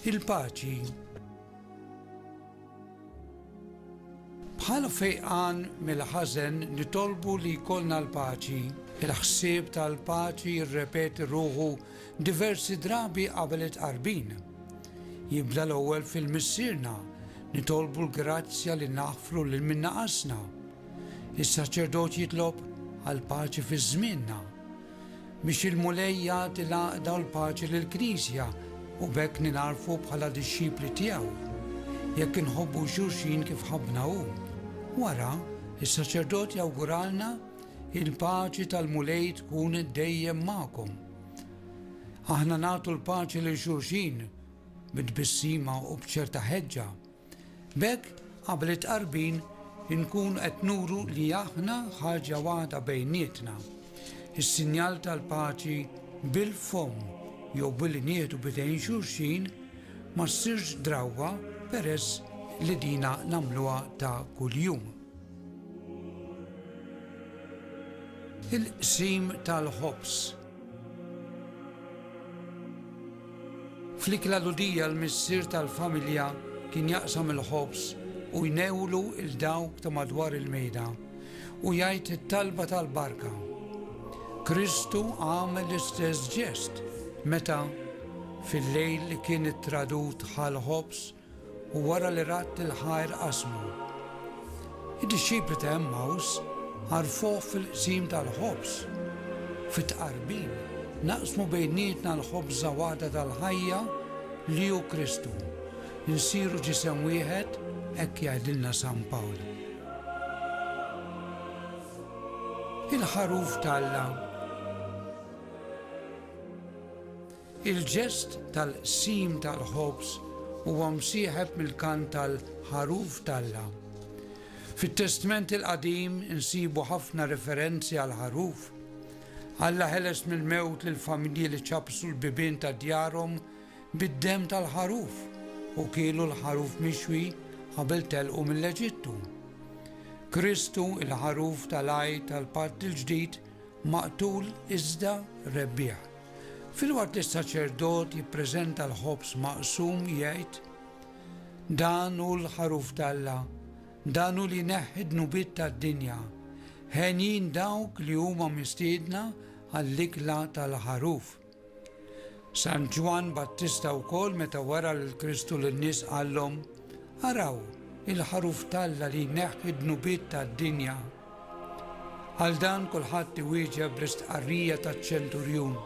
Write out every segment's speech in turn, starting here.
Il-paċi Bħala fejqan mill-ħażen nitolbu li jkollna l-paċi. Il-ħsieb tal-paċi jirrepeti ruħu diversi drabi qabel it-qarbin. Jibda l-ewwel fil-missierna, nitolbu l-grazzja li naħfru lil minnaqasna. Is-saċerdot jitlob għal paċi fiż-żmienna. Biex il-Mulej jagħti l-għaqda u l-paċi lill-Knisja u b'hekk ningħarfu bħala dixxipli tiegħu. Jekk inħobbu xulxin kif ħabbna hu. Wara, is-saċerdot jawguralna, Il-paċi tal-Mulej tkun dejjem magħkom. Aħna nagħtu l-paċi lil xulxin bit-tbissima u b'ċerta ħeġġa B'hekk, qabel it-tqarbin, inkunu qed nuru li aħna ħaġa waħda bejnietna. Is-sinjal tal-paċi bil-fomm jew billi nieħdu b'idejn xulxin ma ssirx drawwa peress li dina nagħmluha ta' kuljum. Il-qsim tal-ħobż. Fl-ikla l-Għudija l-missier tal-familja kien jaqsam il-ħobż u jnewwlu 'l dawk ta' madwar il-mejda u jgħid it-talba tal-barka. Kristu għamel l-istess ġest meta, fil-lejl li kien ittradut, ħa l-ħobż U wara li radd il-ħajr qasmu. Id-dixxipli ta' Emmaus għarfuh fil-qsim tal-ħobż. Fit-Tqarbin naqsmu bejnietna l-ħobż żawada tal-ħajja li hu Kristu. Insiru ġisem wieħed, hekk jgħidilna San Pawl. Il-Ħaruf t'Alla. Il-ġest tal-qsim tal-ħobż huwa msieħeb mill-kant tal-Ħaruf t'Alla. Fit-Testment il-Qadim insibu ħafna referenzi għall-ħaruf. Alla ħeles mill-mewt lill-familji li ċappsu l-bibien ta' djarhom bid-demm tal-ħaruf u kielu l-ħaruf mixwi qabel telqu mill-Eġittu. Kristu, il-Ħaruf tal-Għid tal-Patt il-Ġdid, maqtul iżda rebbieħ. Filwaqt li s-saċerdot jippreżenta l-ħobż maqsum, jgħid, Dan hu l-Ħaruf t'Alla, dan hu li jneħħi d-dnubiet tad-dinja. Henjin dawk li huma mistiedna għall-ikla tal-Ħaruf. San Ġwann Battista wkoll meta wara lil Kristu lin-nies qallhom, Araw, il-Ħaruf t'Alla li jneħħi d-dnubiet tad-dinja. Għal dan kulħadd iwieġeb bl-istqarrija taċ-ċenturjun,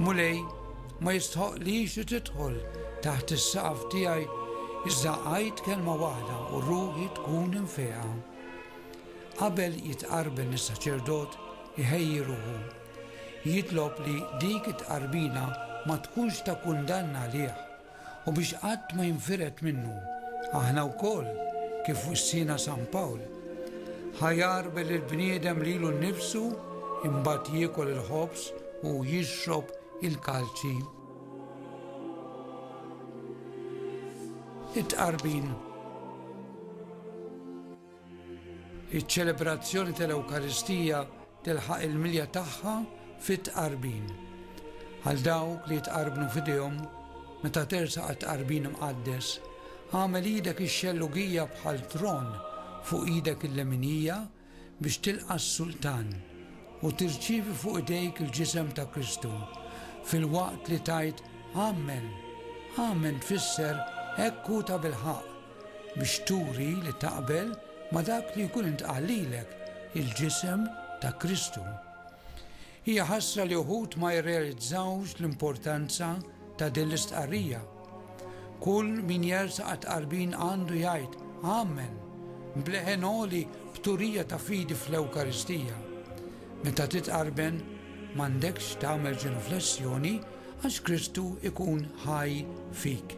Mulej, ma jistħoqqlix li tidħol taħt is-saqaf tiegħi, iżda għid kelma waħda u ruħi tkun imfejqa. Qabel jitqarben is-saċerdot iħejji ruħu, jitlob li dik it-tqarbina ma tkunx ta' kundanna għalih, u biex qatt ma jinfired minnu. Aħna wkoll, kif wissiena San Pawl, Ħa jagħrbel il-bniedem lilu nnifsu, imbagħad jiekol il-ħobż u jixrob il-kalċi. It-Tqarbin. Iċ-ċelebrazzjoni tal-Ewkaristija tilħaq il-milja tagħha fit-Tqarbin. Għal dawk li jitqarbnu f'idejhom meta tersaq għat-Tqarbin Imqaddes, għamel idek ix-xellugija bħal tron fuq idek il-leminija biex tilqa' s-Sultan u tirċievi fuq idejk il-ġisem ta' Kristu, filwaqt li tgħid Amen. Amen tfisser hekk hu tabilħaqq. biex turi li taqbel ma' dak li jkun intqal lilek, il-ġisem ta' Kristu. Hija ħasra li uħud ma jirrealizzawx l-importanza ta' din l-istqarrija. Kull min jersaq għat-tqarbin għandu jgħid, Amen! b'leħen għoli b'turija ta' fidi fl-Ewkaristija. Meta titqarben, m'għandekx tagħmel ġenuflessjoni għax Kristu jkun ħaj fik.